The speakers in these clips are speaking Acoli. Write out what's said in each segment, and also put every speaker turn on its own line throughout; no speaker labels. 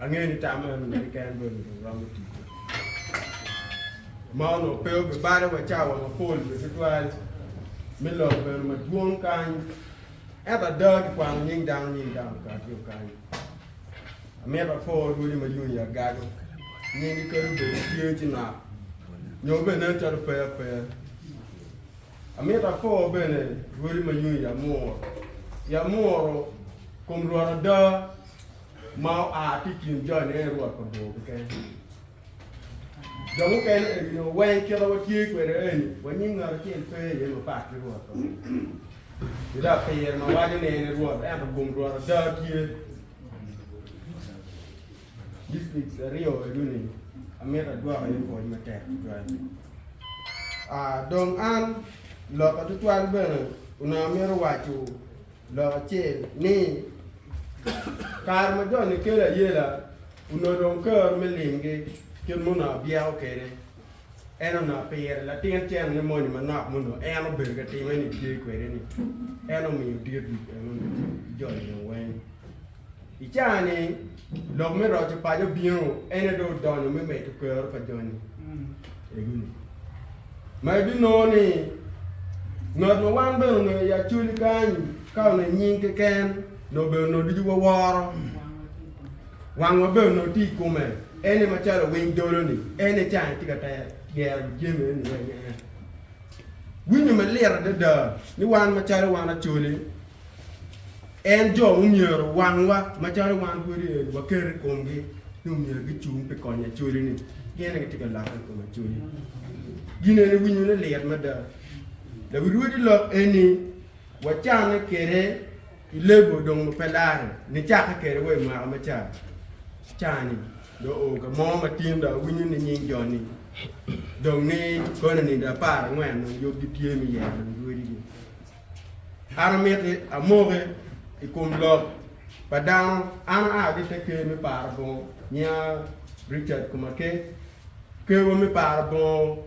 Angeyo ni tam eno ni keken dong onongo romo ticwa. Ma onongo pe obibale wa cawa mapol bene tutwal me lok bene madwong kany. Ento ada kikwano nying dano nying dano okati okany. Amito apor rwodi ma yung ya gago. Nyingi kelo bedo tye ci nak. Nyo bene nen calo pe ape. Amito apor bene rwodi ma yung ya muro. Ya muro kom rwot ada ma oa ki i kin joni en aye Rwot pa bur keken. Jo mukene eni nio weng kit ma watye kwede eni wa nyim ngat acel pe iye mapat ki Rwot pa bur. Pi dok pire ma waco ni en aye Rwot ento bum Rwot ada tye. Districts aryo enu ni amito agwok iye pwony matek tutwal. Dong an, loka tutwal bene onongo amito waco Lok acel ni, Kare ma jo nikelo ayela onongo dong kero me limgi, kit ma onongo abyeko kwede, en onongo apire latin cen me moni manok ma onongo en obedo ka timme-ni tye kwede-ni, en omiyo dit wi jo-ni dong weng. I caa-ni, lok me roco paco obino, en aye dong odonyo me medo kero pa joni ego-ni. Ma ibinongo ni, ngat ma wan bene onongo i Acholi kany, ka onongo i nying keken, nongo bene onongo ducu waworo. Wangwa bene onongo tye i kome, en aye macalo winy dolo-ni, en aye caa-ni tye ka te- gero jami eni wek en. Winyo malit adada ni wan macalo wan Acholi, en jo omyero wangwa macalo wan pwod waket i komgi ni omyero gicung pi konyo Acholi-ni pien en aye tye ka lokke i kom Acholi. Gin eni winyone lit mada. Lawiruwedi lok eni wacanne kwede i lebo dong ma pe lare nicakke kwede wa i mwaka ma ca ca-ni dong oo ka mo ma tin dong awinyo ni nying jo-ni dong ni kononide apar angwen dong yub gitye me yero lawiruwedi-gi. An amiti amoki i kom lok pa dano. An aa ki te ker me paro bongo, nyinga Richard Kumake. Kerwa me paro bongo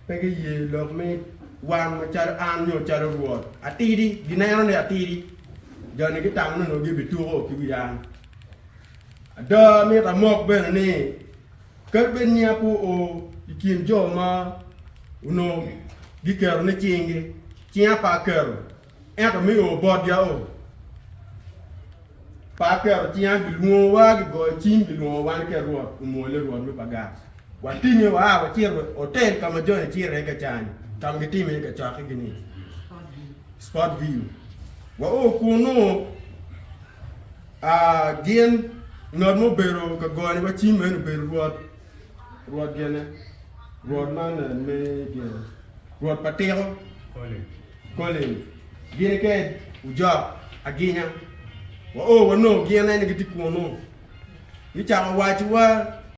pe giye lok ni wan macalo an nyo calo Rwot atidi, gineno ni atidi. Joni gitamo ni onongo gibituko ki wi an. Ado amito amok bene ni, Kadi bed ni apo o i kin jo ma onongo giketo ni cinggi, cinga pe aketo, ento me o botgi ao pe aketo cinga. Gilwongowa, gigoyo cim, gilwongo wan ki Rwot omwole, Rwot me pagat. Watinge, waa, wacito wa i otel ka ma joni cito iye ka cani, ka ma gitimo iye kacokkigi-ni, Spottville. Wao kunnu. A Gin, ngat ma obedo ka goni wa cim en obedo rwot, rwot gene, rwot man me gin, rwot pa tiko, Colin. Gin ki ojok aginya, wa o wanongo gin eni gitye kunu, gicako waco wa.